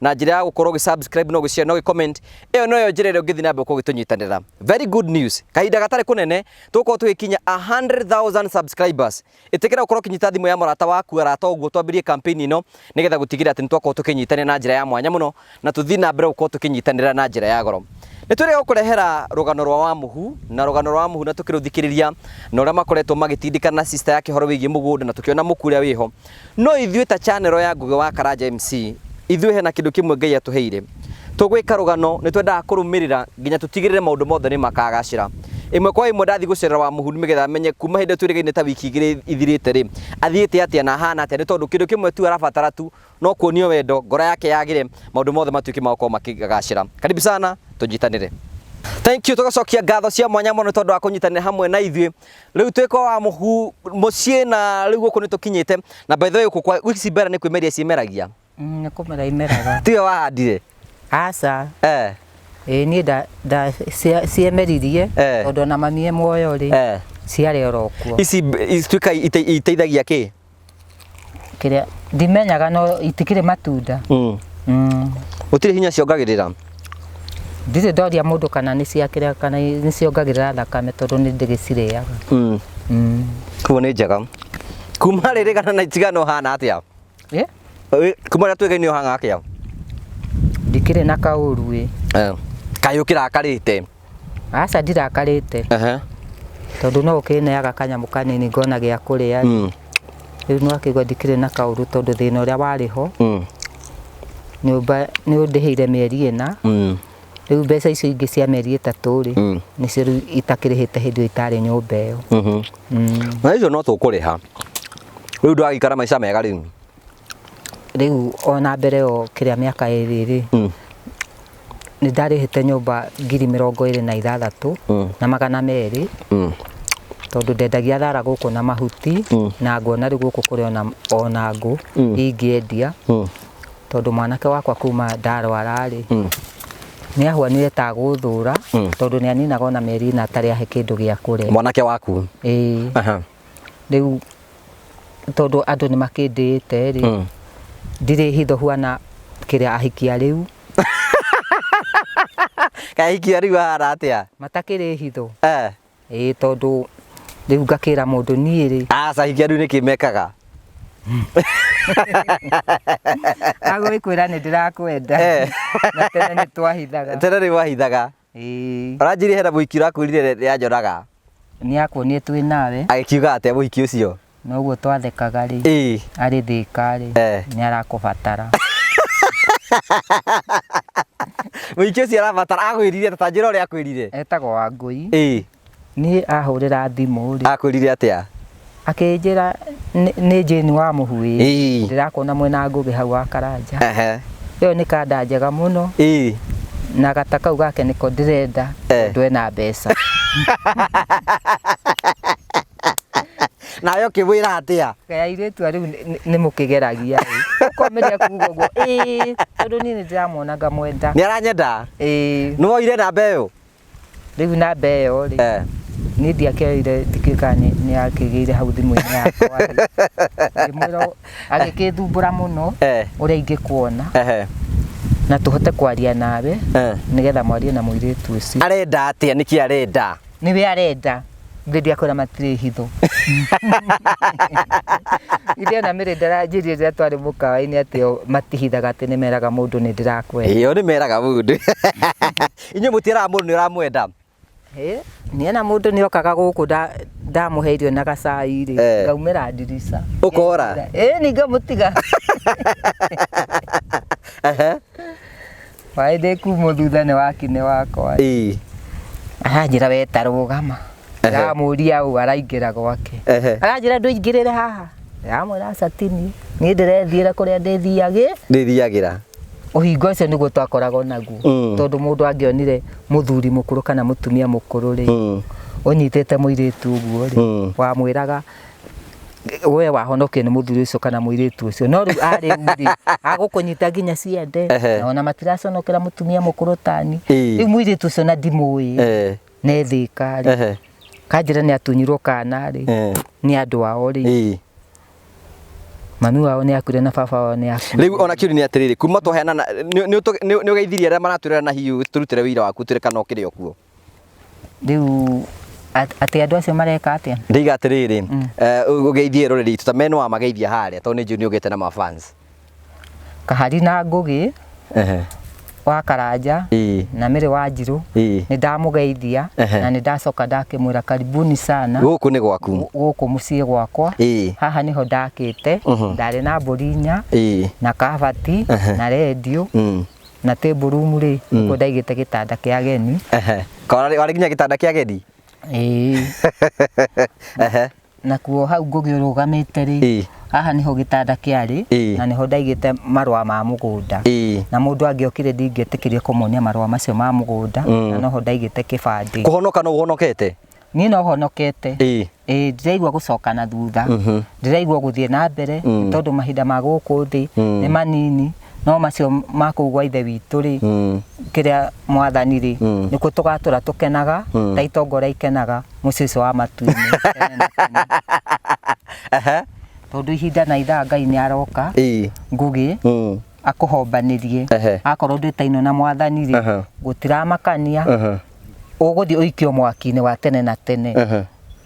na njĩra ya gũkorwo ũgĩ subscribe no gĩshare no gĩ comment ĩyo noyo njĩra ĩrĩa ũngĩthiĩ na mbere gũkorwo ũgĩtũnyitanĩra very good news kahinda gatarĩ kũnene tũgũkorwo tũgĩkinya 100,000 subscribers ĩtĩkĩra gũkorwo ũkĩnyita thimũ ya mũrata waku arata ũguo twambĩrie campaign ĩno nĩgetha gũtigĩrĩra atĩ nĩtwakorwo tũkĩnyitanĩra na njĩra ya mwanya mũno na tũthiĩ na mbere gũkorwo tũkĩnyitanĩra na njĩra ya goro nĩtwĩrĩga gũkũrehera rũgano rwa wa mũhu na rũgano rwa wa mũhu na tũkĩrũthikĩrĩria na ũrĩa makoretwo magĩtindĩkana na sister yake horo wĩgiĩ mũgũnda na tũkĩona mũku ũrĩa wĩho No ithuĩ ta channel ya Ngũgĩ wa Karanja MC, ithuĩ hena kĩndũ kĩmwe Ngai atũheire. Tũgwĩka rũgano nĩ twendaga kũrũmĩrĩra nginya tũtigĩrĩre maũndũ mothe nĩ makagacĩra. Ĩmwe kwa ĩmwe ndathiĩ gũcerera Wamuhuru nĩgetha menye kuma hĩndĩ ĩyo twĩrĩgaine ta wiki igĩrĩ ithirĩte rĩ, athiĩte atĩa na ahana atĩa nĩ tondũ kĩndũ kĩmwe tu arabatara tu no kuonio wendo, ngoro yake yagĩre, maũndũ mothe matuĩke ma gũkorwo makĩgacĩra. Karibu sana, tũnyitanĩre. Thank you, tũgacokia ngatho cia mwanya mũno nĩ tondũ wa kũnyitanĩra hamwe na ithuĩ. Rĩu twĩka wa mũhu mũciĩ na rĩu gũkũ nĩ tũkinyĩte na by the way gũkũ kwa ici mbera nĩ kwĩmeria ciĩmeragia Mm, nĩ kũmera imeraga tiwe wahandire aca eh ĩĩ niĩ nda- nda- cia- ciemeririe Eh. tondũ ona mamie muoyo rĩ eh ciarĩ oro kuo ici mb- ici twĩka ite- iteithagia kĩ kĩrĩa ndimenyaga no itikĩrĩ matunda Mm. Mm. Gũtirĩ hinya ciongagĩrĩra. ndirĩ ndoria mũndũ kana nĩ cia kĩrĩa kana nĩ ciongagĩrĩra thakame tondũ nĩ ndĩgĩcirĩaga Mm. Mm. Kuo nĩ njega. Kuma rĩrĩ kana na itigano hana atĩa? Eh? Ĩ, Kuma rĩrĩa twĩgainĩ ũhanga atĩa? ndikĩrĩ na kaũru ĩ Eh. Kaĩ ũkĩrakarĩte? aca ndirakarĩte Ehe. tondũ no ũkĩneaga kanyamũ kanini ngona gĩa kũrĩa Mm. rĩu no akĩigua ndikĩrĩ na kaũru tondũ thĩna ũrĩa warĩ ho Mm. nyũmba nĩ ũndĩhĩire mĩeri ĩna Mm. rĩu mbeca icio ingĩ cia mĩeri ĩtatũ rĩ Mm. nĩcio rĩu itakĩrĩhĩte hĩndĩ ĩyo itarĩ nyũmba ĩyo Mhm. Mm. na icio no tũkũrĩha rĩu ndwagĩikara maica mega rĩu rĩu ona mbere yo kĩrĩa mĩaka ĩrĩ rĩ mm. nĩ ndarĩhĩte nyũmba ngiri mĩrongo ĩrĩ na ithathatũ mm. na magana merĩ mm. tondũ ndendagia thara gũkũ na mahuti mm. na ngona rĩu gũkũ kũrĩ ona, ona ngũ mm. ingĩendia mm. tondũ mwanake wakwa kuma ndarwara rĩ mm nä ahwa nä eta gå thå ra mm. tondå nä aninaga ona mä ri na atarä ahe kä ndå gä a kå rä mwanake waku ä rĩu tondũ andũ nĩ makĩndĩĩte rĩ Mm. ndirĩ hitho huana kĩrĩa ahikia rĩu kahikia rĩu ahana atĩa matakĩrĩ hitho Eh, ĩĩ tondũ rĩu ngakĩra mũndũ niĩ rĩ aca hikia rĩu nĩkĩ mekaga agũgĩkwĩra nĩ ndĩrakwenda Eh. na tene nĩ twahithaga tene nĩ wahithaga Ĩĩ. Ũranjirĩhe na mũhiki ũrakwĩrire rĩ- rĩrĩa nyonaga. Nĩakuonie twĩ nawe. Agĩkiuga atĩa mũhiki ũcio? Na ũguo twathekaga rĩ. Ĩĩ. Arĩ thĩĩka rĩ. Eh. Nĩarakũbatara. Mũhiki ũcio arabatara akwĩrire atĩa? Ta njĩra ũrĩa akwĩrire. Etagwo Wangũi. Ĩĩ. Niĩ ahũrĩra thimũ-rĩ. Akwĩrire atĩa? Akĩnjĩra nĩ nĩ Jane wa Mũhu-ĩ, Ĩĩ. ndĩrakuona mwena Ngũgĩ hau wa Karanja. Ehe. Ĩyo nĩ kanda njega mũno. Ĩĩ. Na gata kau gake nĩko ndĩrenda Eh. tondũ ena mbeca. Nawe ũkĩmwĩra atĩa? Kaĩ airĩtu a rĩu nĩ- nĩ- nĩmũkĩgeragia-ĩ. Ũkomĩrĩria kuga ũguo, ĩĩ, tondũ niĩ nĩndĩramuona ngamwenda. Nĩaranyenda? Ĩĩ. Nĩwoire namba ĩyo? Rĩu namba ĩyo rĩ Eh. niĩ ndiakĩoire ndikĩka nĩ yakĩgĩire hau thimũ-inĩ yakwa rĩ. ngĩmwĩra ũ- agĩkĩthumbũra mũno Eh. ũrĩa ingĩkuona Ehe. na tũhote kwaria nawe Eh. nĩgetha mwarie na mũirĩtu ũcio arenda atia nĩkĩ arenda nĩwe arenda ithe ndiakwĩra matirĩ hitho ithe ona mĩrĩ ndaranjĩrie rĩrĩa twarĩ mũkawa-inĩ atĩ o matihithaga atĩ nĩmeraga mũndũ nĩ ndĩrakwenda ĩyo nĩ meraga mũndũ inyuĩ mũtieraga mũndũ nĩ ũramwenda niĩ na mũndũ nĩ okaga gũkũ nda- ndamũhe irio na gacai rĩ Eh. ngaumĩra ndirica Ũkora? ĩĩ nĩ ngamũtiga Ehe. waĩ ndĩkumũ thutha nĩ wakinĩ wakwa Ii. aranjĩra weta rũgama Ehe. ndamũria ũũ araingĩra gwake Ehe. aranjĩra ndũingĩrĩre haha ndamwĩra aca ti niĩ niĩ ndĩrethiĩra kũrĩa ndĩthiagĩ ndĩthiagĩra ũhinga ũcio nĩguo twakoragwo naguo Mm. tondũ mũndũ angĩonire mũthuri mũkũrũ kana mũtumia mũkũrũ rĩ Mm. ũnyitĩte mũirĩtu ũguo rĩ Mm. wamwĩraga we wahonokio nĩ mũthuri ũcio kana mũirĩtu ũcio no rĩu arĩ u rĩ agũkũnyita nginya ciende Ehe. na ona matiraconokera mũtumia mũkũrũ tani Ĩĩ. rĩu mũirĩtu ũcio na ndimũĩ Eh. ne thika rĩ ehe kanjĩra nĩ atunyirwo kana rĩ eh, nĩ andũ ao rĩ ĩĩ. mami wao nĩ akuire na baba wao nĩ akuire rĩu ona kĩũri nĩ atĩrĩrĩ kuma twaheana na- nĩ- nĩ ũtũ- nĩ- nĩ ũgeithirie arĩa maratwĩrera na hihi tũrutĩre wĩira waku twĩre kana ũkĩrĩ okuo rĩu at- atĩ andũ acio mareka atĩa ndaiga atĩrĩrĩ eh, ũgeithie rũrĩrĩ itũ ta meno amageithia harĩa tondũ nĩ njũĩ nĩ ũgĩte na mafans Kahari na Ngũgĩ Ehe. wa Karanja Ĩĩ. na Mĩrĩ wa Njirũ Ĩĩ. nĩ ndamũgeithia Ehe. na nĩ ndacoka ndakĩmwĩra karibuni sana Gũkũ nĩ gwaku. gu- gũkũ mũciĩ gwakwa Ĩĩ. haha nĩho ndakĩte Mhm. ndarĩ na mbũri inya Ĩĩ. na kabati Ehe. na rendio Mm. na table room rĩ nĩkuo ndaigĩte gĩtanda kĩa ageni Ehe. Ka- Warĩ warĩ nginya gĩtanda kĩa ageni. Ĩĩ. Ehe. Nakuo hau ngũgĩrũgamĩte-rĩ, Ĩĩ. haha nĩho gĩtanda kĩarĩ, Ĩĩ. na nĩho ndaigĩte marũa ma mũgũnda. Ĩĩ. Na mũndũ angĩokire ndingĩetĩkĩrire kũmuonia marũa macio ma mũgũnda, na noho ndaigĩte kĩbandĩ. Kũhonoka no ũhonokete? Niĩ no honokete. Ĩĩ. Ĩĩ, ndiraigua gũcoka na thutha. Ndĩraigua gũthiĩ na mbere, nĩ tondũ mahinda ma gũkũ thĩ nĩ manini. no macio ma kũu gwa ithe witũ rĩ Mm. kĩrĩa mwathani rĩ Mm. nĩkuo tũgatũra tũkenaga Mm. ta itongoria ikenaga mũciĩ ũcio wa matuinĩ tene na tene. Aha. tondũ ihinda na ithaa ngai nĩ aroka Ii. ngũgĩ Mm. akũhombanĩrie Ehe. akorwo ndwĩtainwo na mwathani rĩ Aha. gũtiramakania Aha. ũgũthiĩ ũikio mwaki-inĩ wa tene na tene Aha.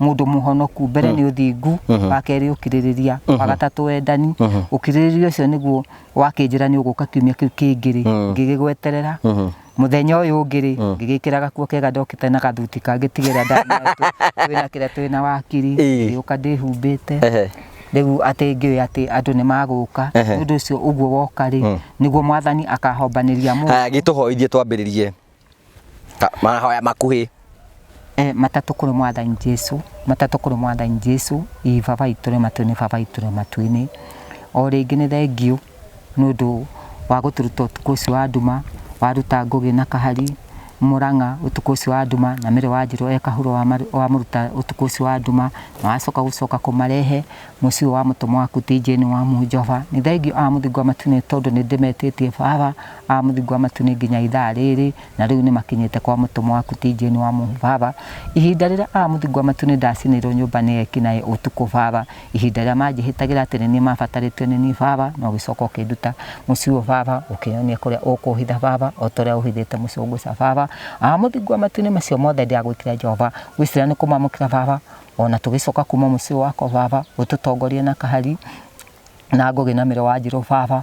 mũndũ mũhonoku mbere mm. nĩ ũthingu mm-hmm. wa kerĩ ũkirĩrĩria wa mm-hmm. gatatũ wendani mm-hmm. ũkirĩrĩria ũcio nĩguo wakĩnjĩra nĩ ũgũka kiumia kĩu kĩngĩ-rĩ mm. ngĩgĩgweterera muthenya uyu ngiri mm. ngigikira gakuo kega ndokite na gathuti kangitigira ndanatu twina kira twina wakiri ngiuka ndihumbite riu atä ngä å atä andå nä magåka nä å ndå å cio å guo woka rä mm. nä guo mwathani akahombanä ria må gä tå hoithie twambä rä rie Ta- mahoya makuhĩ Eh, matatũ kũrĩ mwathani jesu matatũ kũrĩ mwathani jesu ii baba itũ rĩ matuinĩ baba itũ rĩ matuinĩ o rĩngĩ nĩ thengiũ nĩ ũndũ wa gũtũruta ũtukũ ũcio wa nduma waruta ngũgĩ na kahari mũrang'a ũtukũ ũcio wa nduma na mĩrĩ wa njĩrũ ekahuro wamũruta ũtukũ ũcio wa nduma na wacoka gũcoka kũmarehe mũciĩ ũyũ wa mũtũmwa waku tĩnjĩni wa munjoba nĩ thengiũ a mũthingo wa matuinĩ tondũ nĩ ndĩmetĩtie baba a mũthingu wa matu nĩ nginya ithaa rĩrĩ, na rĩu nĩmakinyĩte kwa mũtũmwo waku ti Jane wa mũhu baba, ihinda rĩrĩa a mũthingu wa matu nĩndacinĩirwo nyũmba nĩ eki naĩ ũtukũ baba, ihinda rĩrĩa manjĩhĩtagĩra atĩ nĩniĩ mabatarĩtio nĩ niĩ baba, na ũgĩcoka ũkĩnduta mũciĩ ũyũ baba, ũkĩnyonia kũrĩa ũkũhitha baba, ota ũrĩa ũhithĩte mũcũngũca baba, a mũthingu wa matu nĩ macio mothe ndĩragwĩtire Jehova, ngwĩcira nĩ kũmamũkĩra baba, ona tũgĩcoka kuma mũciĩ ũyũ wakwa baba, ũtũtongorie na kahari, na ngũgĩ na mĩrũ wanjirũ baba,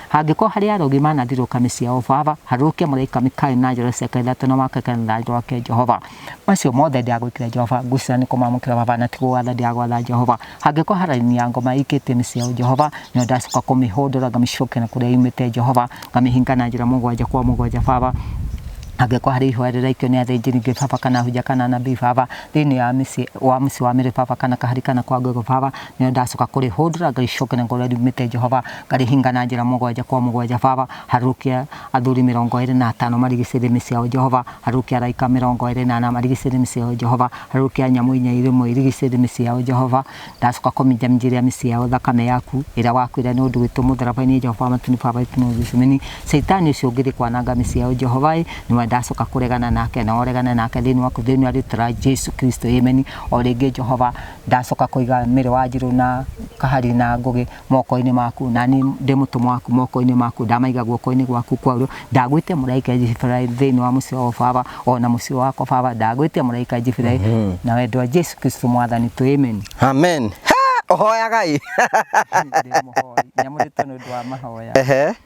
Hangĩkorwo harĩ arogi manangĩrĩrwo kanĩ cia ũbaba, harũrũkia mũraika Mikaeli na njora cia Ngai ithatũ na wake kĩrĩra na rũthanju rwake Jehova. Macio mothe ndĩ agwĩkĩra Jehova, ngucĩrĩra nĩ kũmamũkĩra baba na ti kũgwatha ndĩ agwatha Jehova. Hangĩkorwo ha raini ya ngoma ĩikĩtio nĩ cia Jehova, nĩyo ndacoka kũmĩhũndũra ngamĩcokia na kũrĩa yumĩte Jehova, ngamĩhinga na njĩra mũgwanja kwa mũgwanja baba. Hangĩkorwo harĩ ihũa rĩraikio nĩ athĩnjĩri Ngai baba kana ahunjia kana anabii baba, thĩinĩ wa mũciĩ wa mĩrĩ baba kana kahari kana kwa ngũgũ baba, Nĩrĩo ndacoka kũrĩhũndũra, ngarĩcokeria ngoro rĩrĩa riumĩte Jehova, ngarĩhinga na njĩra mũgwanja kwa mũgwanja. Baba, harũrũkia athuri mĩrongo ĩĩrĩ na atano marigicĩrie mĩciĩ yao, Jehova. Harũrũkia araika mĩrongo ĩĩrĩ na ana marigicĩrie mĩciĩ yao, Jehova. Harũrũkia nyamũ inya irĩ muoyo irigicĩrie mĩciĩ yao, Jehova. Ndacoka kũminjaminjĩria mĩciĩ yao thakame yaku, ĩrĩa wakuire nĩ ũndũ witũ mũtharaba-inĩ, Jehova wa matu-inĩ, Baba witũ nĩ Gethsemane. Shaitani ũcio ũngĩthiĩ kwananga mĩciĩ yao, Jehova-ĩ, nĩwe ndacoka kũregana nake, nawe ũregane nake thĩinĩ waku, thĩinĩ wa rĩĩtwa rĩa Jesu Kristo. Ameni. O rĩngĩ, Jehova, Ndacoka kũiga Mĩrũ Wanjirũ na Kahari na Ngũgĩ moko-inĩ maku, na niĩ ndĩ mũtũmwo waku moko-inĩ maku, ndamaiga guoko-inĩ gwaku kwa ũrĩo, ndagwĩtia mũraika Jiburaeli thĩinĩ wa mũciĩ ũyũ Baba, o na mũciĩ wakwa Baba, ndagwĩtia mũraika Jiburaeli, na wendwa wa Jesu Kristo Mwathani tũ Amen. Amen. Ha! Ũhoyaga ĩ? Ndĩ mũhoi, nyamũrĩtwo nĩ ũndũ wa mahoya. Ehe.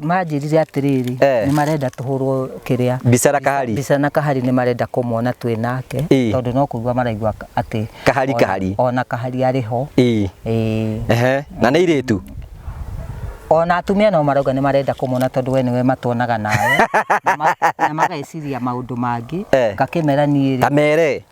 manjĩrire atĩrĩrĩ Eh. nĩ marenda tũhũrwo kĩrĩa Mbica na kahari. mbica na kahari nĩ marenda kũmwona twĩ nake Ĩ. tondũ no kũigua maraigua ka- atĩ Kahari, ona- kahari. ona kahari arĩ ho Ii. Ĩ. Ehe. Na nĩ irĩtu. ona atumia no marauga nĩ marenda kũmwona tondũ we nĩwe matuonaga nawe Na ma- na mageciria maũndũ mangĩ Eh. ngakĩmera niĩ rĩ Kamere.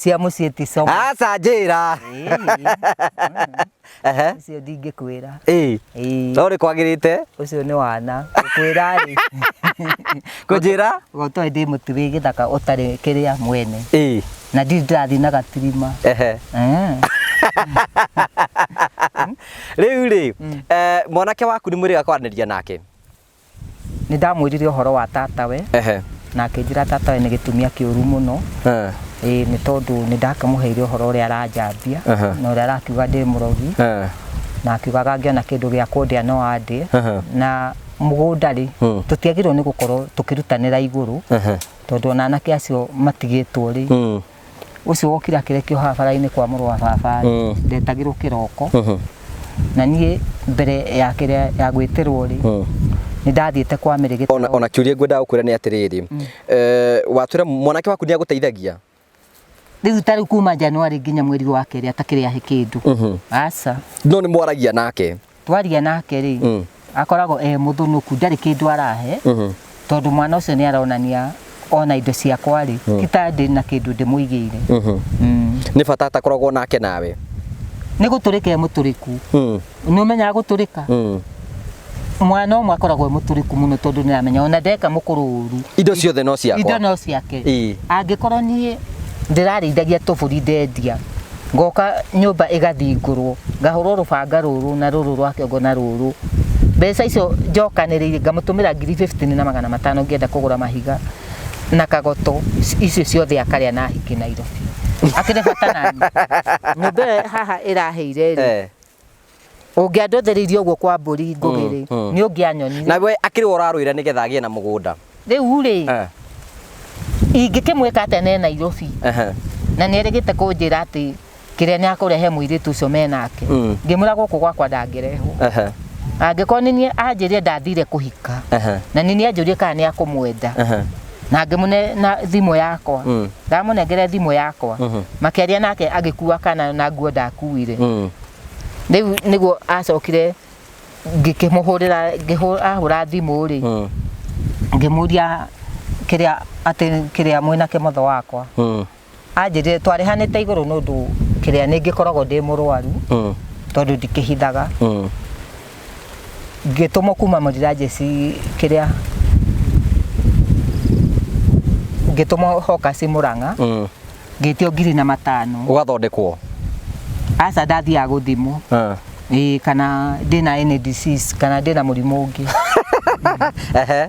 cia muciĩ ti coma aca njĩra ucio ndingĩkwĩra no rĩ kwagĩrĩte ucio nĩ wana kwĩra rĩ kũnjĩra gotoe ndĩ mũtu wĩ gĩthaka ũtarĩ kĩrĩa mwene na ndirĩ ndĩrathiĩ na gatirima rĩu rĩ mm. eh, mwanake waku nĩ mwĩrĩga kwaranĩria nake Nĩ ndamwĩrire ũhoro wa tatawe, Ehe. na akĩnjĩra tatawe nĩ gĩtumia kĩũru mũno, Eh. ĩĩ nĩ tondũ nĩ ndakĩmũheire ũhoro ũrĩa aranjambia, Aha. na ũrĩa arakiuga ndĩ mũrogi, Eh. na akiugaga angĩona kĩndũ gĩa kũndĩa no andĩe, Aha. na mũgũnda-rĩ, Hmm. tũtiagĩrĩirwo nĩ gũkorwo tũkĩrutanĩra igũrũ, Ehe. tondũ ona anake acio matigĩtwo-rĩ, Hmm. ũcio wokire akĩrekio haha bara-inĩ kwa mũrũ wa baba Mm. ndetagĩrwo kĩroko Mhm. na niĩ mbere ya kĩrĩa ya gwĩtĩrwo rĩ Mm. nĩ ndathiĩte kwa mĩrĩ ona, gĩtaro ona kiuria ngwendaga gũkwĩra nĩ atĩrĩrĩ Eh, watwĩra mwanake waku nĩ agũteithagia rĩu ta rĩu kuma Januari nginya mweri wa kerĩ atakĩrĩ ahe kĩndũ Mhm. aca no nĩ mwaragia nake twaria nake rĩ Mm. akoragwo e mũthũnũku ndarĩ kĩndũ arahe Mhm. tondũ mwana ũcio nĩ aronania ona indo ciakwa rĩ ti ta ndĩ na kĩndũ ndĩmũigĩire Mhm. Mm. nĩ bata atakoragwo nake nawe nĩ gũtũrĩka e mũtũrĩku Mm. nĩ ũmenyaga gũtũrĩka Mm. mwana ũmwe akoragwo e mũtũrĩku mũno tondũ nĩ aramenya ona ndeka mũkũrũ ũru indo ciothe no indo ciakwa no ciake Ĩĩ. angĩkorwo niĩ ndĩrarĩithagia tũbũri ndendia ngoka nyũmba ĩgathingũrwo ngahũrwo rũbanga rũrũ na rũrũ rwa kĩongo na rũrũ mbeca icio njokanĩrĩire ngamũtũmĩra ngiri 15 na magana matano ngĩenda kũgũra mahiga na kagoto icio ciothe akarĩa na ahiki Nairobi akĩrĩ bata nani nyũmba ĩyo haha ĩraheire rĩ Eh. ũngĩandũthĩrĩirie ũguo kwa mbũri ngũgĩ rĩ mm, mm. nĩ ũngĩanyonire na we akĩrĩ we ũrarũĩra nĩ getha agĩe na mũgũnda rĩu rĩ eh. ingĩkĩmwĩka atĩa ne nairobi na nĩ erĩgĩte kũnjĩra atĩ kĩrĩa nĩ akũrehe mũirĩtu ũcio me nake mm. ngĩmwĩra gũkũ gwakwa ndangĩrehwo angĩkorwo nĩ niĩ anjĩrire ndathire kũhika na nĩ niĩ anjũrie kana nĩ akũmwenda na ngĩmũne na thimũ yakwa Mm. ndamũnengere thimũ yakwa Mhm. makĩaria nake agĩkua kana na nguo ndakuire Mm. rĩu nĩguo acokire ngĩkĩmũhũrĩra ngĩhũ- ahũra thimũ rĩ Mm. ngĩmũria kĩrĩa atĩ kĩrĩa mwĩnake motho wakwa Mm. anjĩrire twarĩhanĩte igũrũ nĩ ũndũ kĩrĩa nĩ ngĩkoragwo ndĩ mũrwaru Mm. tondũ ndikĩhithaga Mm. ngĩtũmwo kuma mũrira jesi kĩrĩa ngĩtũmwo hokasi mũrang'a Mm. ngĩtio ngiri na matano Ũgathondekwo. aca ndathiaga gũthimwo Ah. ĩĩ kana ndĩna any disease kana ndĩna mũrimũ ũngĩ Ehe.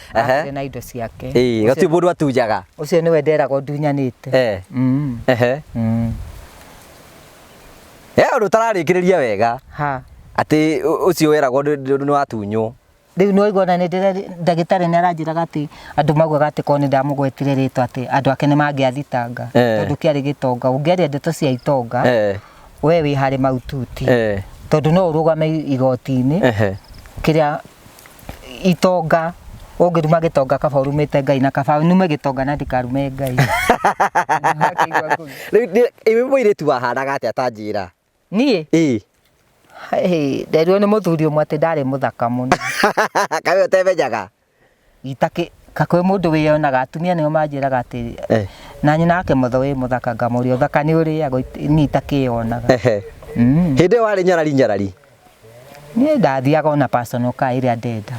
Ehe. arakire na indo ciake Ĩĩ, gatuĩ mũndũ atunjaga ũcio nĩwe nderaga ũndunyanĩte Eh, Mm, ehe. mm. Eh, ũndũ ũtararĩkĩrĩria wega ha atĩ ũ- ũcio weragwo ndũ- ndũ- nĩ watunywo rĩu nĩ waigua na nĩ ndĩra- ndagĩtarĩ nĩ aranjĩraga atĩ andũ maugaga atĩ korwo nĩ ndamũgwetire rĩtwa atĩ andũ ake nĩ mangĩathitanga Eh. tondũ kĩarĩ gĩtonga ũngĩaria ndeto cia itonga Eh, we wĩ harĩ maututi eh, tondũ no ũrũgame igoti-inĩ ehe. kĩrĩa itonga ũngĩruma gĩtonga kaba ũrumĩte ngai na kaba nume gĩtonga na ndikarume ngai Ndakĩigua ngũĩ. Rĩu ndĩ- ĩĩ mũirĩtu wahanaga atĩa ta njĩra niĩ ĩĩ hey, nderirwo nĩ mũthuri ũmwe atĩ ndarĩ mũthaka mũno kawe ũtemenyaga Itakĩ ka kwĩ mũndũ wĩyonaga atumia nĩo manjĩraga atĩ Eh. na nyina wake mũtho wĩ mũthaka ngamũria ũthaka nĩ ũrĩagwo It- niĩ itakĩyonaga Ehe. Mm. Hĩndĩ ĩyo warĩ nyarari nyarari. niĩ ndathiaga ona personal car ĩrĩa ndenda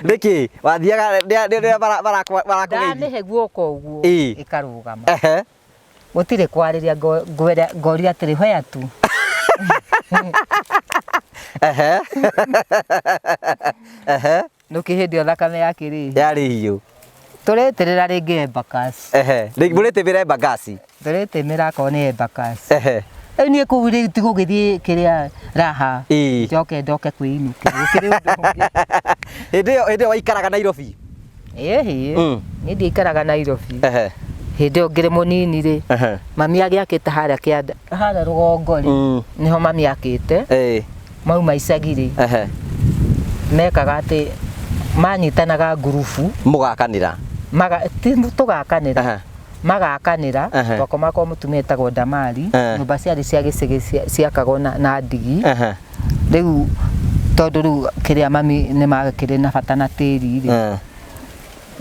Nĩkĩ? Wathiaga rĩa- rĩa- rĩa bara- barakwa- barakũgeithia? ndanĩhe guoka ũguo Ĩ. ĩkarũgama Ehe. Gũtirĩ kwarĩria ngo- ngwĩra- ngoria atĩrĩ hoya tu. Ehe. Ehe. Nũkĩ hĩndĩ ĩyo thakame yakĩrĩ. Yarĩ hiũ. Tũrĩtĩrĩra rĩngĩ Embakasi. Ehe. Rĩngĩ mũrĩtĩmĩra Embakasi. Tũrĩtĩmĩra akorwo nĩ Embakasi. Ehe. Rĩu niĩ kũu rĩu ti gũgĩthiĩ kĩrĩa raha. Ĩĩ. Njoke ndoke kwĩinũkĩra. Gũkĩrĩ ũndũ ũngĩ. Hĩndĩ ĩyo hĩndĩ ĩyo waikaraga Nairobi. ĩ hihi Mm. niĩ ndiaikaraga nairobi Ehe. hĩndĩ ĩyo ngĩrĩ mũnini rĩ Ehe. mami agĩakĩte harĩa kĩanda harĩa rũgongo rĩ Mm. nĩho mami akĩte Ĩĩ. mauma icagi rĩ Ehe. mekaga atĩ manyitanaga ngurubu Mũgakanĩra. maga ti tũgakanĩra Ehe. magakanĩra Ehe. twakomaga kwa mũtumia etagwo ndamari Eh. nyũmba ciarĩ cia gĩcigĩ cia- ciakagwo na na ndigi Ehe. rĩu tondũ rĩu kĩrĩa mami nĩ magĩkĩrĩ na bata na tĩri rĩ Eh,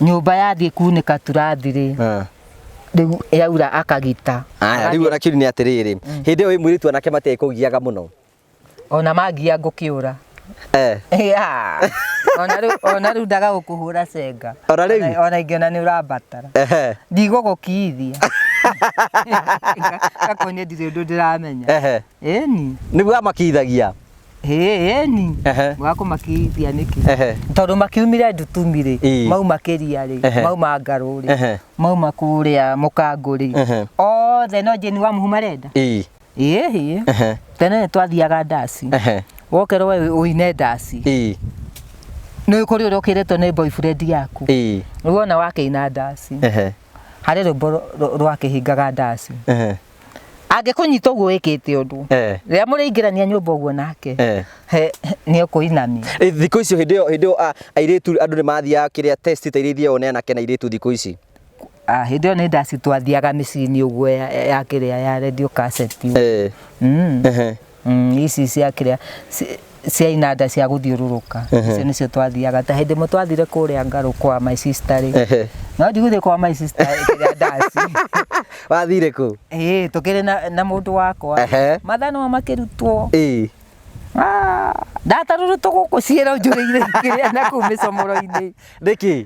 nyũmba yathiĩ kunĩka turathi rĩ eh. rĩu yaura akagita Aya, rĩu ona kĩũri nĩ atĩrĩrĩ hĩndĩ ĩyo wĩ mũirĩtu anake matiĩ kũgiaga mũno ona mangia ngũkĩũra Eh, Ya. Ona rĩu- ona rĩu ndaga gũkũhũra cenga Ona rĩu? Ona- ona ingĩona nĩ ũrambatara ehe, ndigũgũkiithia gakonye ndirĩ ũndũ ndĩramenya ehe. Ĩni. Nĩguo amakithagia. Ĩni. Ehe. Wakũmakithia nĩkĩ? Ehe. Tondũ makiumire Ndutumi-rĩ, Ĩĩ. mauma Kĩria-rĩ, Ehe. mauma Ngarũ-rĩ, Ehe. mauma kũrĩa Mũkangũ-rĩ, Ehe. othe no Jane Wamuhu marenda? Ĩĩ. Ĩĩ. Ehe. Tene nĩtwathiaga ndaci. Ehe. Wokerwo we ũine ndaci. Ĩĩ. Nĩ kũrĩ ũrĩa ũkĩrĩtwo nĩ boyfriend yaku. Ĩĩ. Rĩu wona wakĩina ndaci, Ehe. harĩ rwĩmbo rwa- rwa- rwakĩhingaga ndaci. Ehe. angĩkũnyita ũguo wĩkĩte ũndũ Eh. rĩrĩa mũrĩingĩrania nyũmba ũguo nake Eh. he- he- nĩũkũinamia Eh, thikũ icio hĩndĩ ĩyo hĩndĩ ĩyo a- airĩtu andũ nĩ mathiaga kĩrĩa test ta iria ithiagwo nĩ anake na airĩtu thikũ ici Ah, hĩndĩ ĩyo nĩ ndaci twathiaga mĩciĩ-inĩ ũguo ya ya kĩrĩa ya radio cassette Eh. Mm. Ehe. Mm, ici cia kĩrĩa ci- cia inanda cia gũthiũrũrũka icio nĩcio twathiaga ta hĩndĩ ĩmwe twathire kũrĩa ngarũ kwa my sister rĩ Ehe. no ndigũthiĩ kwa my sister kĩrĩa ndaci wathire kũ ĩĩ tũkĩrĩ na- na mũndũ wakwa Ehe. mathaa nĩmo makĩrutwo Ĩĩ. ndatarũrũtwo gũkũ ciĩro njũrĩire kĩrĩa na kũu mĩcomoro-inĩ nĩkĩ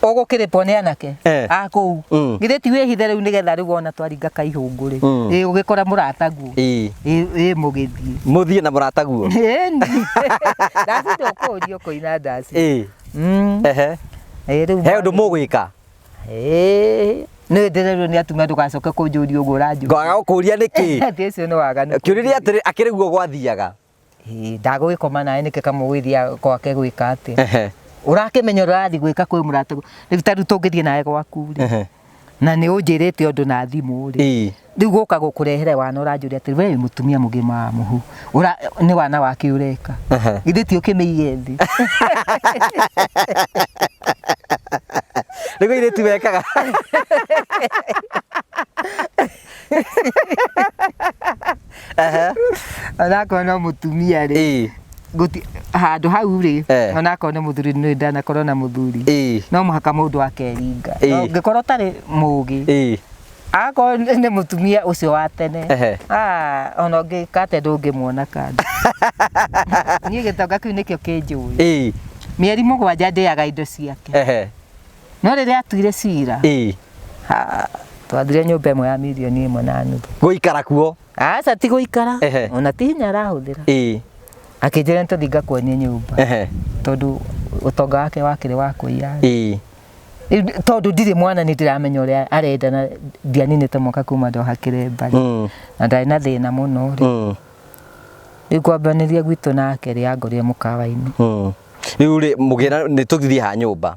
ũgũkĩrĩpwo nĩ anake Eh. a kũu Mm. githĩ ti wĩhithe rĩu nĩgetha rĩu ona twaringa kaihũngũrĩ Mm. ĩ ũgĩkora mũrata guo Ii. ĩ ĩ mũgĩthiĩ Mũthiĩ na mũrata guo. Ĩni. ndaci ndũkũũrio kũina ndaci Ii. Mm. Ehe. Ĩ, rĩu He ũndũ mũgwĩka. Ĩ, nĩ ndĩrerwo nĩ atumia ndũgacoke kũnjũria ũguo ũranjũria Ngoaga gũkũria nĩkĩ? Atĩ ũcio nĩ waganu Kĩũria atĩrĩ akĩrĩ guo gwathiaga. Ĩ, ndagũgĩkoma nawe nĩkĩ kamũgwĩthia gwake gwĩka atĩ Ehe. ũrakĩmenya ũrathiĩ gwĩka kwĩ mũrata rĩu ta rĩu tũngĩthiĩ nawe gwaku rĩ Ehe. na nĩ ũnjĩrĩte ũndũ na thimũ rĩ Ii. rĩu gũka gũkũrehere wana ũranjũria atĩ we wĩ mũtumia mũgima wa mũhu Ũra- nĩ wana wake ũreka Ehe. githĩ ti ũkĩmĩige thĩ Nĩguo irĩtu mekaga. Aha. onakorwo no mũtumia rĩ Ĩ. gũti- handũ hau rĩ Eh. onakorwo nĩ mũthuri nĩ ndanakorwo na mũthuri Ĩ. no mũhaka mũndũ akeringa Ĩ. No ngĩkorwo ũtarĩ mũgĩ Ĩ. akorwo nĩ nĩ mũtumia ũcio wa tene Ehe. Ah, ona ũngĩka atĩa ndũngĩmuona kando niĩ gĩtonga kĩu nĩkĩo kĩnjũĩ Ĩ. mĩeri mũgwanja ndĩaga indo ciake Ehe. no rĩrĩa atuire cira ĩĩ ha, twathire nyũmba ĩmwe ya milioni ĩmwe na nuthu gũikara kuo aca ti gũikara Ehe. ona ti hinya arahũthĩra ĩĩ akĩnjĩra nĩtũthiĩ ngakuonie nyũmba ehe tondũ ũtonga wake wakĩrĩ wa kũiya ĩĩ Rĩu ndi- tondũ ndirĩ mwana nĩ ndĩramenya ũrĩa arenda na ndianinĩte mwaka kuma ndoha kĩremba Mm, na ndarĩ na thĩna mũno rĩ mm, rĩu kwambanĩria gwitũ nake rĩ angorire mũkawa-inĩ mm. rĩu rĩ mũgĩra nĩ tũthiĩ ha nyũmba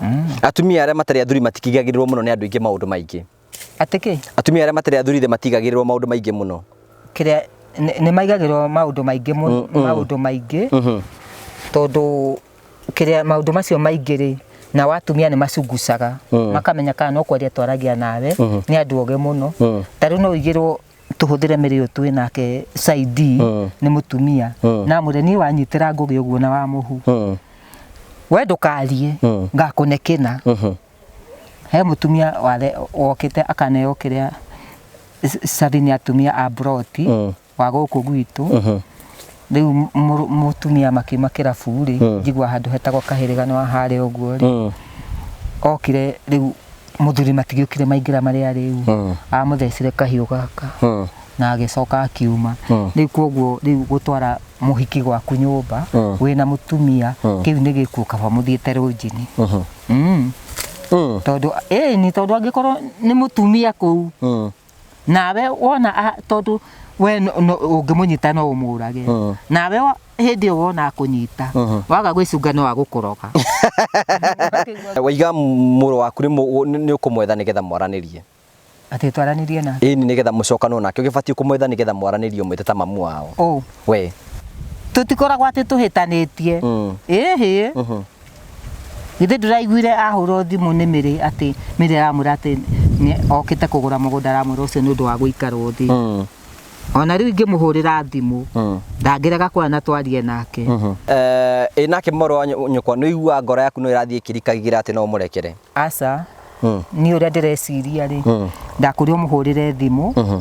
Mm. Atumia arĩa matarĩ athuri matikigagĩrĩrwo mũno nĩ andũ aingĩ maũndũ maingĩ. Atĩ kĩ? Atumia arĩa matarĩ athuri matigagĩrĩrwo maũndũ maingĩ mũno. Kĩrĩa nĩ maigagĩrwo maũndũ maingĩ mũno, mm, mm. maũndũ maingĩ. Mm-hmm. Tondũ kĩrĩa maũndũ macio maingĩ rĩ, na watumia nĩ macungucaga mm. makamenya kana no kwaria twaragia nawe mm-hmm. nĩ andũ ogĩ mũno mm. tarĩu no ũigĩrwo tũhũthĩre mĩrĩ ũyũ twĩ nake Saidi Mm. nĩ mũtumia Mm. na mwĩre niĩ wanyitĩra ngũgĩ ũguo na wa mũhu Mm. we ndũkariĩ Mm. ngakũne kĩna Mhm. he mũtumia ware- wokĩte akaneo kĩrĩa cabi nĩ atumia a mburoti Mm. wa gũkũ gwitũ Mhm. rĩu mũrũ- mũtumia makiuma kĩrabu-rĩ Mm. njigua handũ hetagwo kahĩrĩga nĩ wa harĩa ũguo-rĩ Mm. okire rĩu mũthuri matigĩũkire maingĩra marĩa rĩu Mm. amũthecire kahiũ gaka Mm. na agĩcoka akiuma Mm. rĩu kwoguo rĩu gũtwara mũhiki gwaku nyũmba Mm. wĩna mũtumia Mm. kĩu nĩ gĩkuũ kaba mũthiĩte rũnjini Mhm. Mm. Mm. tondũ ĩni tondũ angĩkorwo nĩ mũtumia kũu Mm. nawe wona a- tondu we no- no- ũngĩmũnyita no ũmũrage Mm. nawe wa- hĩndĩ ĩyo wona akũnyita Mhm. waga gwĩcunga no agũkũroga waiga mũrũ waku nĩ mũ- nĩ- nĩ ũkũmwetha nĩgetha mwaranĩrie atĩ twaranĩrie na ĩni nĩgetha mũcokanwo nake ũgĩbatiĩ kũmwetha nĩgetha mwaranĩrie ũmwĩte ta mamu wao ũ we tũtikoragwo atĩ tũhĩtanĩtie Mm. ĩhĩ Mhm. Githĩ ndĩraiguire ahũrwo thimũ nĩ mĩrĩ atĩ mĩrĩ aramwĩra atĩ nĩ okĩte kũgũra mũgũnda aramwĩra ũcio nĩ ũndũ wa gũikarwo thĩ. Mm. Ona rĩu ingĩmũhũrĩra thimũ Mm. ndangĩrega kuona na twarie nake. Eh, ĩ nake mũrũ wa nyũ- nyũkwa nĩ ũiguaga ngoro yaku no ĩrathiĩ ĩkĩrikagĩra atĩ no ũmũrekere Aca, Mm. niĩ ũrĩa ndĩreciria rĩ, Mm. ndakũria ũmũhũrĩre thimũ, Mhm.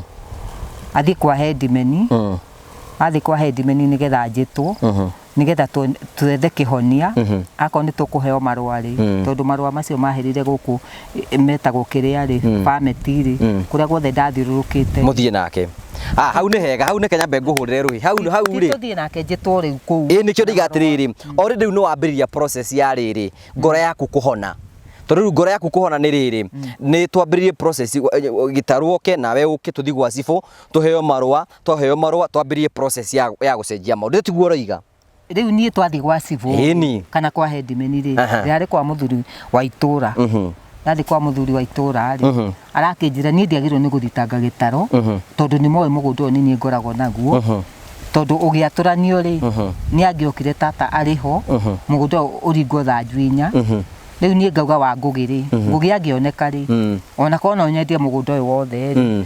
athiĩ kwa headman, Mm. athiĩ kwa headman nĩgetha njĩtwo, Mhm. nigetha twe- twethe kĩhonia Mhm. akorwo nĩ tũkũheo marũa rĩ Mm. tondũ marũa macio mahĩrire gũkũ eh, metagwo kĩrĩa rĩ Mm. pameti rĩ Mm. kũrĩa guothe ndathiũrũrũkĩte mũthiĩ nake ah hau nĩ hega hau nĩ kenya mbe ngũhũrĩre rũhi hau hau rĩ tũthiĩ nake njĩtwo rĩu kũu ĩĩ nĩkĩo ndiga atĩrĩrĩ o rĩu nĩ wambĩrĩria process ya rĩrĩ ngoro yaku kũhona tondũ rĩu ngoro yaku kũhona nĩ rĩrĩ nĩ twambĩrĩrie process eh, gĩtarũ oke nawe ũke tũthiĩ gwa cibũ tũheo marũa twaheo marũa twambĩrĩrie process ya ya gũcenjia maũndũ tiguo ũroiga rĩu niĩ twathiĩ gwa cibũ Ĩni. kana kwa hendimeni rĩ Aha. rĩarĩ kwa mũthuri wa itũra Mhm. ndathiĩ kwa mũthuri wa itũra rĩ Mhm. arakĩnjĩra niĩ ndiagĩrĩirwo nĩ gũthitanga gĩtaro Mhm. tondũ nĩ moĩ mũgũnda ũyũ nĩ niĩ ngoragwo naguo Mhm. tondũ ũgĩatũranio rĩ Mhm. nĩ angĩokire tata arĩ ho Mhm. mũgũnda ũyũ ũringwo thanju inya Mhm. rĩu niĩ ngauga wa ngũgĩ rĩ ngũgĩ angĩoneka rĩ Mm. ona korwo no nyendie mũgũnda ũyũ wothe rĩ Mm.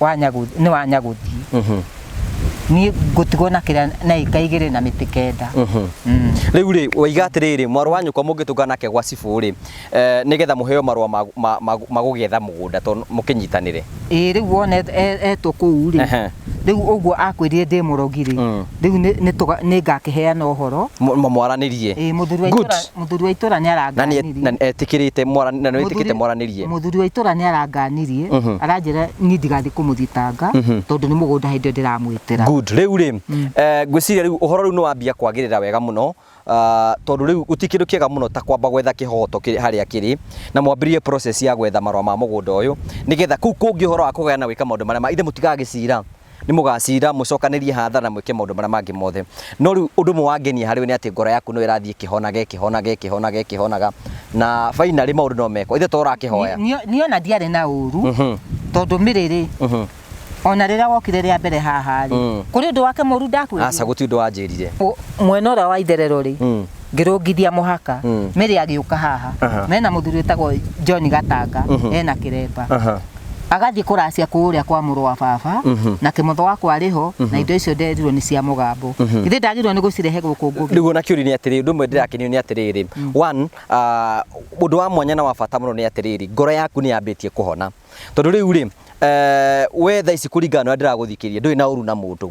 wa nyaguthi nĩ wa nyaguthi niĩ ngũtigwo na kĩrĩa na ĩka igĩrĩ na mĩtĩ kenda Mm. rĩu rĩ waiga atĩrĩrĩ mwarũ wa nyũkwa mũngĩtũngana nake gwa cibũ rĩ eh, nĩgetha mũheo marũa ma- ma- ma- ma gũgĩetha mũgũnda tondũ mũkĩnyitanĩre ĩĩ rĩu wona et- e- etwo kũu rĩ Ehe. rĩu ũguo akwĩrire ndĩ mũrogi rĩ Mm. rĩu nĩ- nĩ tũga- nĩ ngakĩheana ũhoro Mũ- mũ- mwaranĩrie ĩĩ mũthuri wa Good. itũra Mũthuri wa itũra nĩ aranganirie. Na etĩkĩrĩte na nĩ etĩkĩte mwaranĩrie. Mũthuri wa itũra nĩ aranganirie mhm. aranjĩra niĩ ndigathiĩ kũmũthitanga mhm. tondũ nĩ mũgũnda hĩndĩ ĩyo ndĩramwĩtĩra. Good. Rĩu rĩ mm. eh, ngwĩciria rĩu ũhoro rĩu nĩ wambia kwagĩrĩra wega mũno ah, tondũ rĩu gũtirĩ kĩndũ kĩega mũno ta kwamba gwetha kĩhoto harĩa kĩrĩ na mwambĩrĩrie process ya gwetha marũa ma mũgũnda ũyũ nĩgetha kũu kũngĩ ũhoro wa kũgayana gwĩka maũndũ marĩa ma ithe mũtigaga gĩcira nĩ mũgacira, mũcokanĩrie hatha na mwĩke maũndũ marĩa mangĩ mothe. No rĩu ũndũ ũmwe wangenia harĩ we nĩ atĩ ngoro yaku no ĩrathiĩ ĩkĩhonaga, ĩkĩhonaga, ĩkĩhonaga, ĩkĩhonaga, na finally maũndũ no mekwo. Ithe to ũrakĩhoya? Niĩ niĩ ona ndiarĩ na ũru Mhm, tondũ mĩrĩrĩ mhm. ona rĩrĩa wokire rĩa mbere haha rĩ Mm. kũrĩ ũndũ wake mũru ndakwĩrire Aca gũtirĩ ũndũ wanjĩrire. Ũ- mwena ũrĩa wa itherero rĩ Mm. ngĩrũngithia mũhaka Mm. mĩrĩ agĩũka haha Aha. mena mũthuri wĩtagwo john gatanga Mhm. ena kĩremba Aha. agathiĩ kũracia kũrĩa kwa mũrũ wa baba Mhm. na kĩmotho wakwa arĩ ho na indo icio nderirwo nĩ cia mũgambo Mhm. ithe ndagĩrĩirwo nĩ gũcirehe gũkũ ngũgĩ rĩu ona kĩũria nĩ atĩrĩrĩ ũndũ ũmwe ndĩrakenio nĩ atĩrĩrĩ one ah, ũndũ wa mwanya na wa bata mũno nĩ atĩrĩrĩ ngoro yaku nĩ yambĩtie kũhona tondũ rĩu rĩ eh, we thaa ici kũringana na ũrĩa ndĩragũthikĩria ndũrĩ na ũru na mũndũ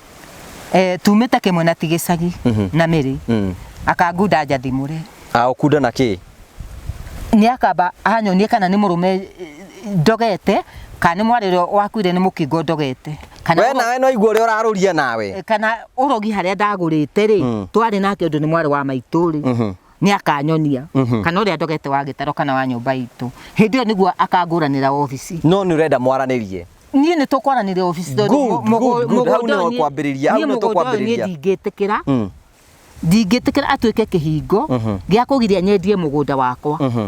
Eh, tumĩte kĩmwe na tigĩcagi mhm. na mĩrĩ mm. akangunda njathimũre aũkunda na kĩ nĩ akamba anyonie kana nĩ mũrũme eh, ndogete kana nĩ mwarĩ ũrĩa wakuire nĩ mũkingo ndogete we nawe no igua ũrĩa ũrarũria nawe eh, kana ũrogi harĩa ndagũrĩte rĩ mm. twarĩ nake ũndũ nĩ mwarĩ wa maitũ rĩ mhm. nĩ akanyonia Mhm. kana ũrĩa ndogete wa gĩtaro kana wa nyũmba itũ hĩndĩ ĩyo nĩguo akangũranĩra obici no nä å renda mwaranä niĩ nä tåkwaranä obici Good, good, good. Hau nĩho kwambĩrĩria, hau nĩho tũkwambĩrĩria. ndingĩtä kä ra ndingĩtä kä ra atuä ke kä hingo Mhm. gä a kå giria nyendie må gå nda wakwa Mhm.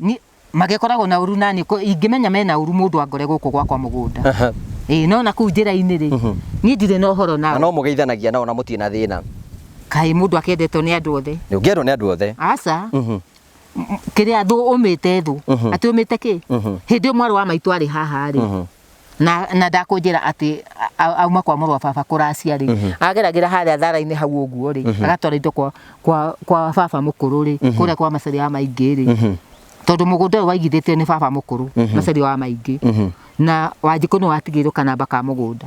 Ni, magĩkoragwo na ũru nani kũ- ingĩmenya mena ũru mũndũ angore gũkũ gwakwa mũgũnda Aha. ĩĩ no na kũu njĩra-inĩ rĩ Mhm. niĩ ndirĩ na ũhoro Na nao no mũgeithanagia nao na mũtirĩ na thĩna. kaĩ mũndũ akendetwo nĩ andũ othe Nĩ ũngĩendwo nĩ andũ othe. aca Mhm. kĩrĩa thũ ũmĩte thũ Mhm. atĩ ũmĩte kĩ Mhm. hĩndĩ ĩyo mwarĩ wa maitũ arĩ haha rĩ Mhm. na na ndakũnjĩra atĩ auma kwa mũrwa baba kũracia rĩ mhm. ageragĩra harĩa thara-inĩ hau ũguo rĩ mhm. agatwara indo kwa kwa kwa baba mũkũrũ rĩ mhm. kũrĩa kwa macari ya maingĩ rĩ tondũ mũgũnda ũyũ waigithĩtio nĩ baba mũkũrũ macari wa maingĩ na wanjikũ nĩ watigĩirwo kanamba ka mũgũnda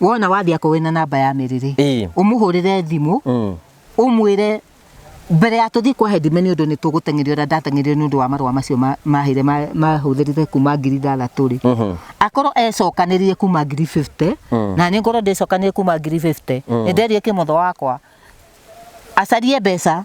wona wathiĩ akorwo wĩna namba ya mĩrĩrĩ Ĩĩ. ũmũhũrĩre thimũ Mm. ũmwĩre mbere ya tũthiĩ kwa headman nĩ ũndũ nĩ tũgũteng'erio ũrĩa ndateng'erio nĩ ũndũ wa marũa macio ma- mahĩire ma- mahũthĩrire kuma ngiri ithathatũ rĩ Mhm. akorwo ecokanĩrie kuma ngiri 50 Mm. na nĩ ngorwo ndĩcokanĩrie kuma ngiri 50 nĩ nderie kĩmotho wakwa acarie mbeca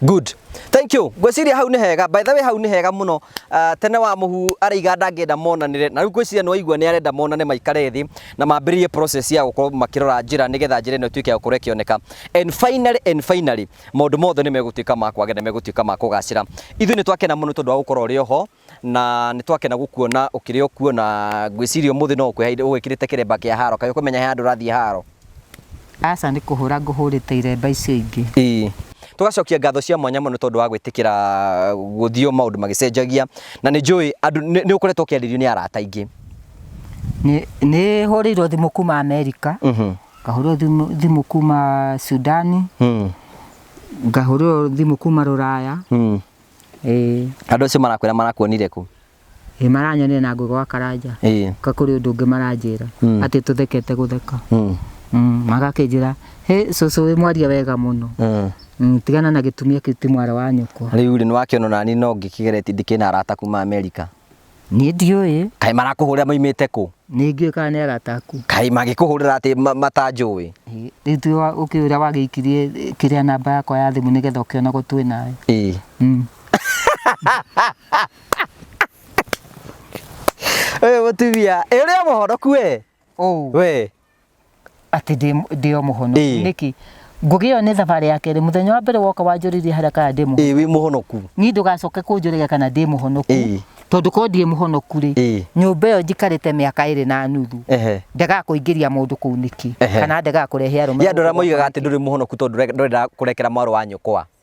Good. Thank you. Ngwĩciria hau nĩ hega. By the way hau nĩ hega mũno. Uh, tene wa mũhu araiga ndangĩenda monanĩre. Na rĩu ngwĩciria nĩ waigua nĩ arenda monane maikare thĩ na mambĩrĩrie process ya gũkorwo makĩrora njĩra nĩgetha njĩra ĩno ĩtuĩke ya gũkorwo ĩkĩoneka. And finally and finally maũndũ mothe nĩ megũtuĩka ma kwagĩra na megũtuĩka ma kũgacĩra. Ithuĩ nĩ twakena mũno tondũ wa gũkorwo ũrĩ oho na nĩ twakena gũkuona ũkĩrĩ o kuo na ngwĩciria ũmũthĩ no ũkwĩhaire ũgwĩkĩrĩte kĩremba kĩa haro kaĩ ũkũmenya he handũ ũrathiĩ haro Aca nĩ kũhũra ngũhũrĩte iremba icio ingĩ. Ĩĩ. Tũgacokia ngatho cia mwanya mũno nĩ tondũ wa gwĩtĩkĩra gũthiĩ o maũndũ magĩcenjagia na nĩ njũĩ andũ nĩ nĩ ũkoretwo ũkĩarĩrio nĩ arata aingĩ. Nĩ- Nĩ hũrĩirwo thimũ kuma Amerika, Mhm. ngahũrĩrwo thimũ- thimũ kuma Sudani, Mm. ngahũrĩrwo thimũ kuma Rũraya, Mm. Ĩĩ. Andũ acio marakwĩra marakuonire kũ? Ĩĩ maranyonire na ngũ gwa Karanja. Ĩĩ. Ka kũrĩ ũndũ ũngĩ maranjĩra. Mm. Atĩ tũthekete gũtheka. Mm. Mm, magakĩnjĩra, hĩ cũcũ wĩ mwaria wega mũno. Mm. Mm, tigana na gĩtumia kĩu ti mwarĩ wa nyũkwa. Rĩu rĩ nĩwakĩona nani no ngĩkĩgeretie ndikĩrĩ na arata kuma Amerika. Niĩ ndiũĩ. Kaĩ marakũhũrĩra maimĩte kũ? Nĩ ngĩũĩ kana nĩ arata aku. Kaĩ mangĩkũhũrĩra atĩ matanjũĩ? Rĩu ti we ũkĩũĩ ũrĩa wagĩikirie kĩrĩa namba yakwa ya thimũ nĩgetha ũkĩonagwo twĩ nawe? Ĩĩ. Mm. Ũyũ mũtumia, ĩ ũrĩa mũhonoku we? Oh. We. atĩ ndĩ- ndĩ o mũhono Ĩĩ. nĩkĩ ngũgĩ ĩyo nĩ thabarĩ ya kerĩ mũthenya wa mbere woka wanjũrĩrie harĩa kana ndĩ mũhonoku ĩĩ wĩ mũhonoku niĩ ndũgacoke kũnjũrĩria kana ndĩ mũhonoku Ĩĩ. tondũ korwo ndirĩ mũhonoku rĩ Ĩĩ. nyũmba ĩyo njikarĩte mĩaka ĩrĩ na nuthu ehe ndegaga kũingĩria mũndũ kũu nĩkĩ Ehe. kana ndegaga kũrehe arũme ya andå arä a gũkũ moigaga atä ndå rä må honoku tondå ndå renda kå rekera mwarå wa nyåkwa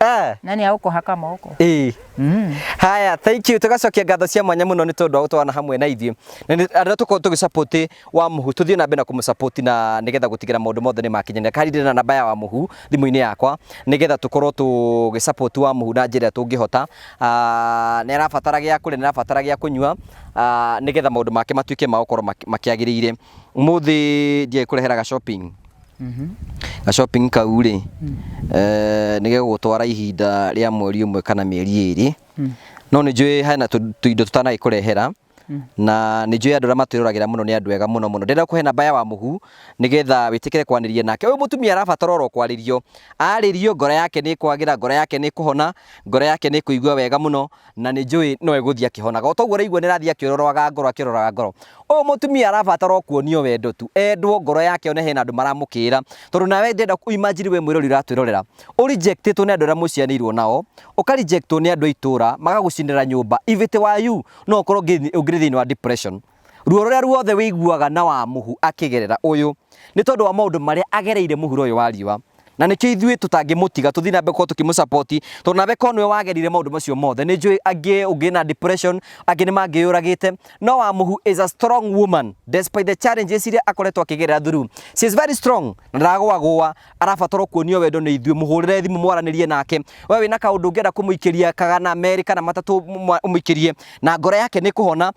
Ah, na nä agå kå haka moko ĩĩ. mm. haya thank you tugacokia ngatho cia mwanya muno ni tondu wa gutwarana hamwe na ithuĩ na nĩ- arĩa tukorwo tũgĩ support wa muhu tũthiĩ na mbere na kũmũ support na nigetha gũtigĩra maũndũ mothe nĩ makinyanĩra kandi ndĩna namba ya wa muhu thimũ-inĩ yakwa nigetha tũkorwo tũgĩ support wa muhu na njĩra ĩrĩa tũngĩhota Ah, nĩ arabatara gĩa kũrĩa nĩ arabatara gĩa kũnyua Ah, nigetha maũndũ make matuĩke ma gũkorwo maki- makĩagĩrĩire mũthĩ ndiĩ kũreheraga shopping Ga shopping kau rĩ, eh, nĩ gegũgũtwara ihinda rĩa mweri ũmwe kana mĩeri ĩrĩ. No nĩ njũĩ hena tũ- tũindo tũtanagĩkũrehera na nĩ njũĩ andũ arĩa matwĩroragĩra mũno nĩ andũ ega mũno mũno. Ndĩrenda kũhe namba ya wa mũhu nĩgetha wĩtĩkĩre kwanĩria nake. Ũyũ mũtumia arabatara oro kwarĩrio. Arĩrio ngoro yake nĩ ĩkwagĩra, ngoro yake nĩ ĩkũhona, ngoro yake nĩ ĩkũigua wega mũno na nĩ njũĩ no egũthiĩ akĩhonaga. O ta ũguo ũraigua nĩ arathiĩ akĩũrorwaga ngoro akĩũrorwaga ngoro. Ũyũ mũtumia arabatara o kuonio wendo tu, endwo ngoro yake yone hena andũ maramũkĩĩra. Tondũ nawe ndĩrenda kũ imagine wĩ mwĩrori ũratwĩrorera, ũ rejectĩtwo nĩ andũ arĩa mũciaranĩirwo nao, ũka rejectwo nĩ andũ a itũũra, magagũcinĩra nyũmba. If it were you, no ũkorwo ũngĩthiĩ thĩinĩ wa depression. Ruo rũrĩa ruothe wĩiguaga na wa mũhu akĩgerera ũyũ nĩ tondũ wa maũndũ marĩa agereire mũhuro ũyũ wa riũa. Na nĩkĩo ithuĩ tũtangĩmũtiga tũthiĩ na mbere gũkorwo tũkĩmũ support tondũ nawe korwo nĩwe wagerire maũndũ macio mothe. Nĩ njũĩ angĩ ũngĩ na depression, angĩ nĩ mangĩyũragĩte. No wa mũhu is a strong woman despite the challenges iria akoretwo akĩgerera through. She is very strong na ndaragũagũa, arabatara o kuonio wendo nĩ ithuĩ. Mũhũrĩre thimũ mwaranĩrie nake. We wĩna kaũndũ ũngĩenda kũmũikĩria kana merĩ kana matatũ ũmũikĩrie na ngoro yake nĩ ĩkũhona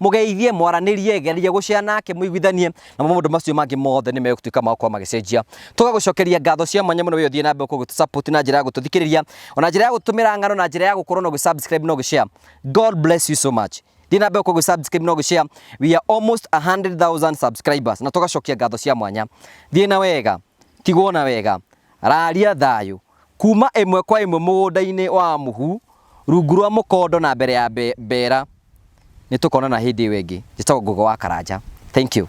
mũgeithie mwaranĩrie geria gũcea nake mũiguithanie na maũndũ macio mangĩ mothe nĩ megũtuĩka ma gũkorwo magĩcenjia tũgagũcokeria ngatho cia mwanya mũno wĩ ũthiĩ na mbere gũkorwo ũgĩtũsupport na njĩra ya gũtũthikĩrĩria ona njĩra ya gũtũmĩra ng'ano na njĩra ya gũkorwo na ũgĩsubscribe na ũgĩshare god bless you so much thiĩ na mbere gũkorwo ũgĩsubscribe na ũgĩshare we are almost 100000 subscribers na tũgacokia ngatho cia mwanya thiĩ na wega tigwo na wega raria thayũ Kuuma ĩmwe kwa ĩmwe mũgũnda-inĩ wa mũhu, rungu rwa mũkondo na mbere ya mbeera. Nĩtũkonana hĩndĩ ĩyo ĩngĩ. Njĩtagwo Ngũgĩ wa Karanja. Thank you.